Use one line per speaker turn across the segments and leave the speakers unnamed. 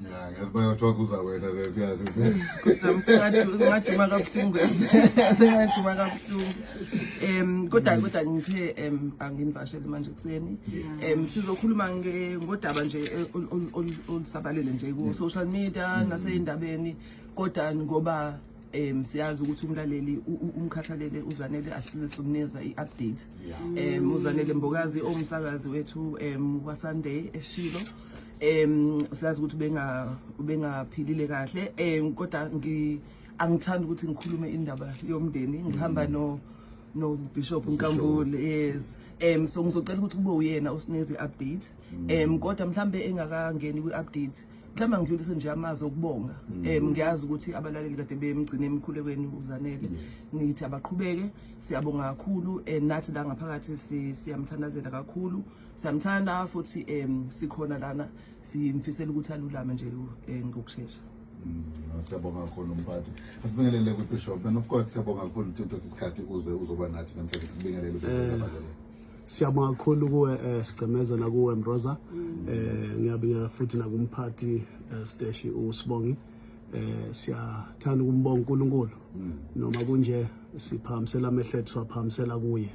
ngiyazibayathiwa
kuza wena seyazimaduma
kabuhlungu sengaduma kabuhlungu um kodwa kodwa ngithe um anginivashele manje ekuseni um sizokhuluma ngodaba nje olusabalele nje ku-social media mm. nasey'ndabeni kodwa ngoba um siyazi ukuthi umlaleli umkhathalele uzanele asize sikumnikeza i-update um uzanele mbokazi owumsakazi wethu um wasunday eshilo em siyazi ukuthi ubenga ubengaphilile kahle em kodwa ngi angithandi ukuthi ngikhulume indaba yomndeni ngihamba mm. no no bishop Nkambule yes em so ngizocela ukuthi kube uyena osineze update mm. em kodwa mhlambe engakangeni kwi update mhlawumbe ngidlulise nje amazwi okubonga um mm. ngiyazi ukuthi abalaleli kade bemgcine emkhulekweni uzanele ngithi abaqhubeke siyabonga kakhulu and nathi la ngaphakathi siyamthandazela kakhulu Samthanda futhi em sikhona lana simfisela ukuthi alulame nje eh, ngokushesha. Mm, siyabonga kakhulu mphathi
asibingelele kwibishop and of course siyabonga kakhulu ukuthi uthathe isikhathi uze uzoba nathi namhlanje sibingelele eh, siyabonga
kakhulu kuwe eh, sigcemeza nakuwe mroza mm. eh, ngiyabingelela futhi nakumphathi eh, steshi usibongi eh, siyathanda ukumbonga unkulunkulu mm. noma kunje siphakamisela amehlo ethu siwaphakamisela kuye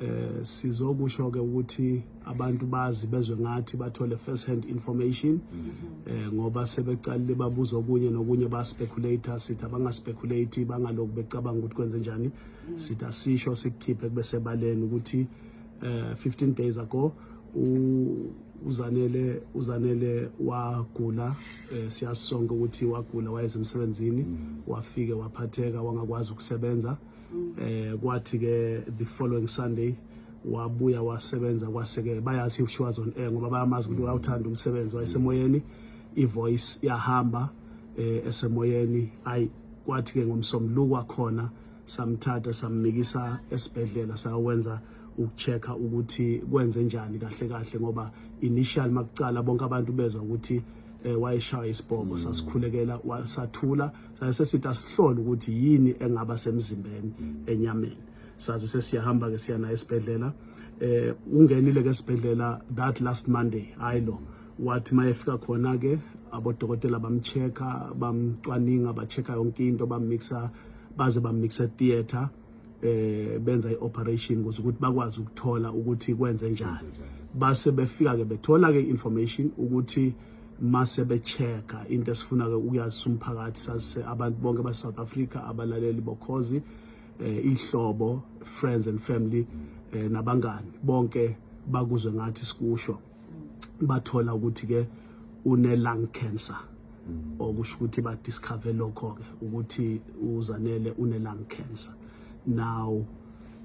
eh sizokusho ke ukuthi abantu bazi bezwe ngathi bathole first hand information mm-hmm. eh ngoba sebeqalile babuza okunye nokunye ba speculator sithi abanga speculate bangalokhu becabanga ukuthi kwenze njani mm. sithi asisho sikukhiphe kube sebaleni ukuthi eh, 15 days ago uzanele uzanele wagula eh, siyasonga ukuthi wagula wayeze emsebenzini mm. wafike waphatheka wangakwazi ukusebenza mm. eh kwathi ke the following sunday wabuya wasebenza kwase ke bayazi she was on air ngoba bayamazi ukuthi mm. wawuthanda umsebenzi wayesemoyeni ivoice yahamba eh esemoyeni ay kwathi ke ngomsombuluko kwakhona samthatha samnikisa esibhedlela sawenza ukuchecka ukuthi kwenze njani kahle kahle ngoba initial makucala bonke abantu bezwa ukuthi eh, wayeshaya isibhobo mm. sasikhulekela sathula sase sithi asihlole ukuthi yini engaba semzimbeni mm. enyameni saze sesiyahamba ke siya naye esibhedlela eh ungenile ke esibhedlela that last monday hayi lo wathi mayefika khona ke abodokotela bamcheka bamcwaninga bacheka yonke into bamixa baze bamnikisa theater eh benza ioperation ukuze ukuthi bakwazi ukuthola ukuthi kwenze njani base befika ke bethola ke information ukuthi mase bechecka into esifuna ke ukuyazisa umphakathi sase abantu bonke ba South Africa abalaleli bokhozi eh ihlobo friends and family eh nabangani bonke bakuzwe ngathi sikusho bathola ukuthi ke une lung cancer mm. okusho ukuthi ba discover lokho ke ukuthi uzanele une lung cancer now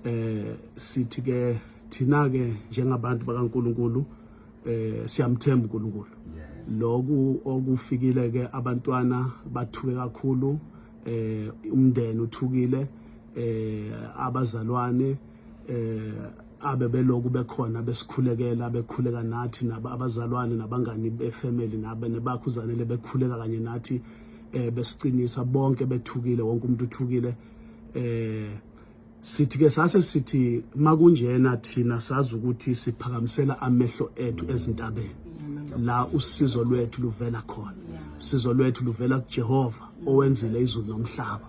eh sithi ke thina ke njengabantu bakaNkuluNkulu eh siyamthemba uNkulunkulu loku okufikile ke abantwana bathuke kakhulu eh umndeni uthukile eh abazalwane eh abe beloku bekhona besikhulekela bekhuleka nathi naba abazalwane nabangani befamily nabe nebakho uzanele bekhuleka kanye nathi eh besiqinisa bonke bethukile wonke umuntu uthukile eh sithi ke sase sithi makunjena thina sazi ukuthi siphakamisela amehlo ethu ezintabeni la usizo lwethu luvela khona usizo lwethu luvela kuJehova owenzile izulu nomhlaba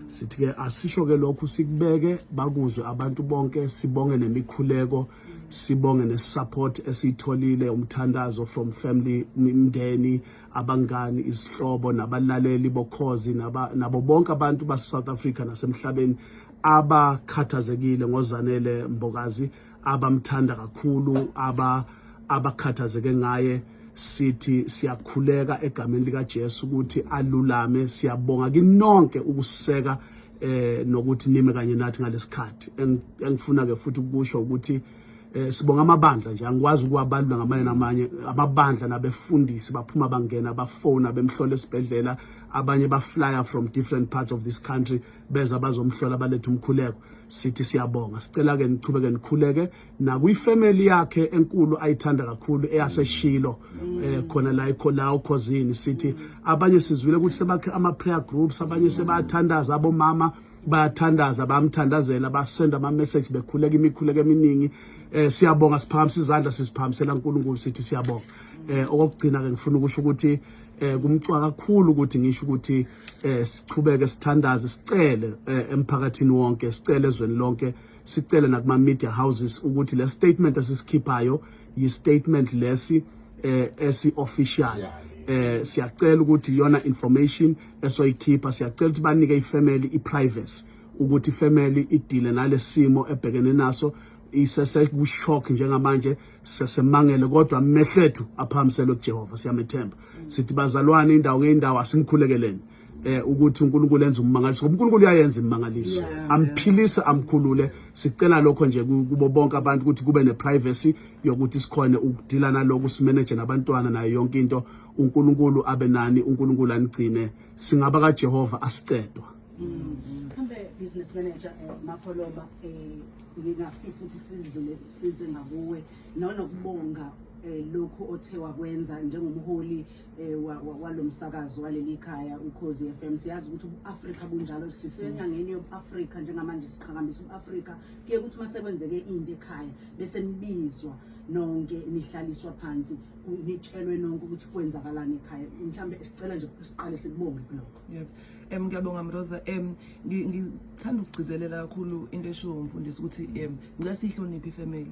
sithi ke asisho ke lokhu sikubeke bakuzwe abantu bonke sibonge nemikhuleko sibonge nesupport esiyitholile umthandazo from family imndeni abangani izihlobo nabalaleli bokhozi nabo bonke abantu base South Africa nasemhlabeni abakhathazekile ngozanele mbokazi abamthanda kakhulu aba abakhathazeke ngaye sithi siyakhuleka egameni likaJesu ukuthi alulame siyabonga kinonke ukuseka eh nokuthi nime kanye nathi ngalesikhathi engifuna ke futhi ukusho ukuthi eh sibonga amabandla nje angikwazi ukuwabalula ngamanye namanye amabandla nabefundisi baphuma bangena bafona bemhlola esibhedlela abanye baflya from different parts of this country beza bazomhlola balethe umkhuleko sithi siyabonga sicela ke nichubeke nikhuleke nakwi family yakhe enkulu ayithanda kakhulu eyaseshilo mm. eh khona la ikho la ukhozini sithi abanye sizwile ukuthi sebakhe ama prayer groups abanye sebathandaza abomama bayathandaza bamthandazela basenda ama message bekhuleka imikhuleko eminingi eh siyabonga siphakamisa izandla sisiphakamisela uNkulunkulu sithi siyabonga eh okugcina ke ngifuna ukusho ukuthi eh kumcwa kakhulu ukuthi ngisho ukuthi eh sichubeke sithandaze sicele eh, emphakathini wonke sicele ezweni lonke sicele nakuma media houses ukuthi le statement esisikhiphayo yi statement lesi eh esi official eh siyacela ukuthi iyona information esoyikhipha siyacela ukuthi banike ifamily iprivacy ukuthi ifamily idile nalesimo ebhekene naso isese ku shock njengamanje sesemangele kodwa amehlethu aphamiselwe kuJehova siyamethemba sithi bazalwane indawo ngeindawo asimkhulekeleni eh ukuthi uNkulunkulu enza ummangaliso ngoba uNkulunkulu uyayenza imangaliso amphilisa amkhulule sicela lokho nje kubo bonke abantu ukuthi kube neprivacy yokuthi sikhone ukudila naloko simanage nabantwana nayo yonke into uNkulunkulu abe nani uNkulunkulu anigcine singaba kaJehova asicedwa mm-hmm. mhlambe
business manager eh, mapholoba eh ngingafisa ukuthi sidlule size ngakuwe nonokubonga eh, lokhu othe wakwenza njengomholi eh, walomsakazo waleli khaya ukhozi FM siyazi ukuthi uAfrika bunjalo sisenyangeni yobuAfrika njengamanje siqhakambisa uAfrika kuye ukuthi masekwenzeke into ekhaya bese nibizwa nonke nihlaliswa phansi nitshelwe nonke ukuthi kwenzakalani ekhaya mhlambe sicela nje siqale sikubonge kuloko yebo Um
ngiyabonga Mroza um ngithanda ukugcizelela kakhulu into eshiwo umfundisi ukuthi um ngicela siyihloniphe ifamily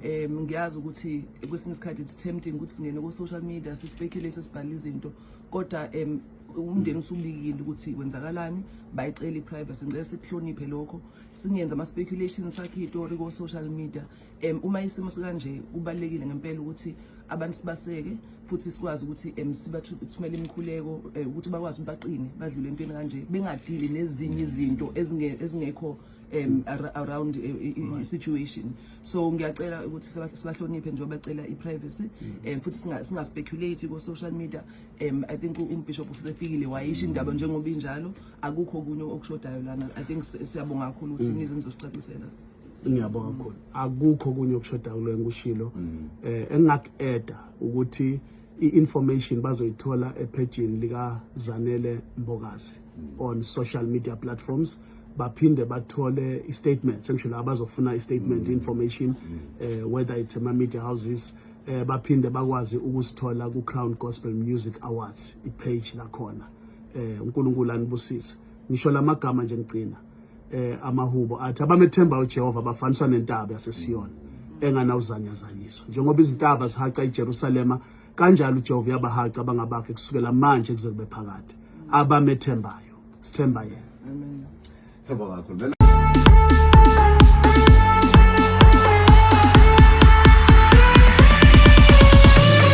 um ngiyazi ukuthi kwesinye isikhathi it's tempting ukuthi singene ku-social media si-speculate sibhale izinto kodwa um umndeni usubikile ukuthi kwenzakalani bayicela i-privacy ngicela sikuhloniphe lokho singenzi ama-speculations sakhe itori ko-social media um uma isimo sikanje kubalulekile ngempela ukuthi abantu sibaseke futhi sikwazi ukuthi um sibathumele imikhuleko um ukuthi bakwazi ukuthi baqine badlule entweni kanje bengadili nezinye izinto ezingekho um around eh, i-situation so ngiyacela ukuthi sibahloniphe njengoba becela i-privacy um futhi singaspeculate ko-social media um i think umbishop usefikile wayisho indaba njengoba injalo akukho okunye okushodayo lana i think siyabonga kakhulu ukuthi nize nizosicacisela ngiyabonga
kakhulu akukho kunye okushoda kuloyo ngikushilo mm. eh engingakueda ukuthi i-information bazoyithola ephejini lika Zanele Mbokazi mm. on social media platforms baphinde bathole i-statement sengisho la bazofuna i-statement mm. information mm. eh whether it's ama media houses eh baphinde bakwazi ukusithola ku Crown Gospel Music Awards i-page lakhona eh uNkulunkulu anibusise ngisho lamagama nje ngigcina eh amahubo athi abamethemba uJehova bafaniswa nentaba yaseSiyoni enganawuzanyazanyiswa njengoba izintaba zihaca iJerusalema kanjalo uJehova uyabahaca abangabakhe kusukela manje kuze kube phakade abamethembayo
sithemba
yena amen
sibonga
kakhulu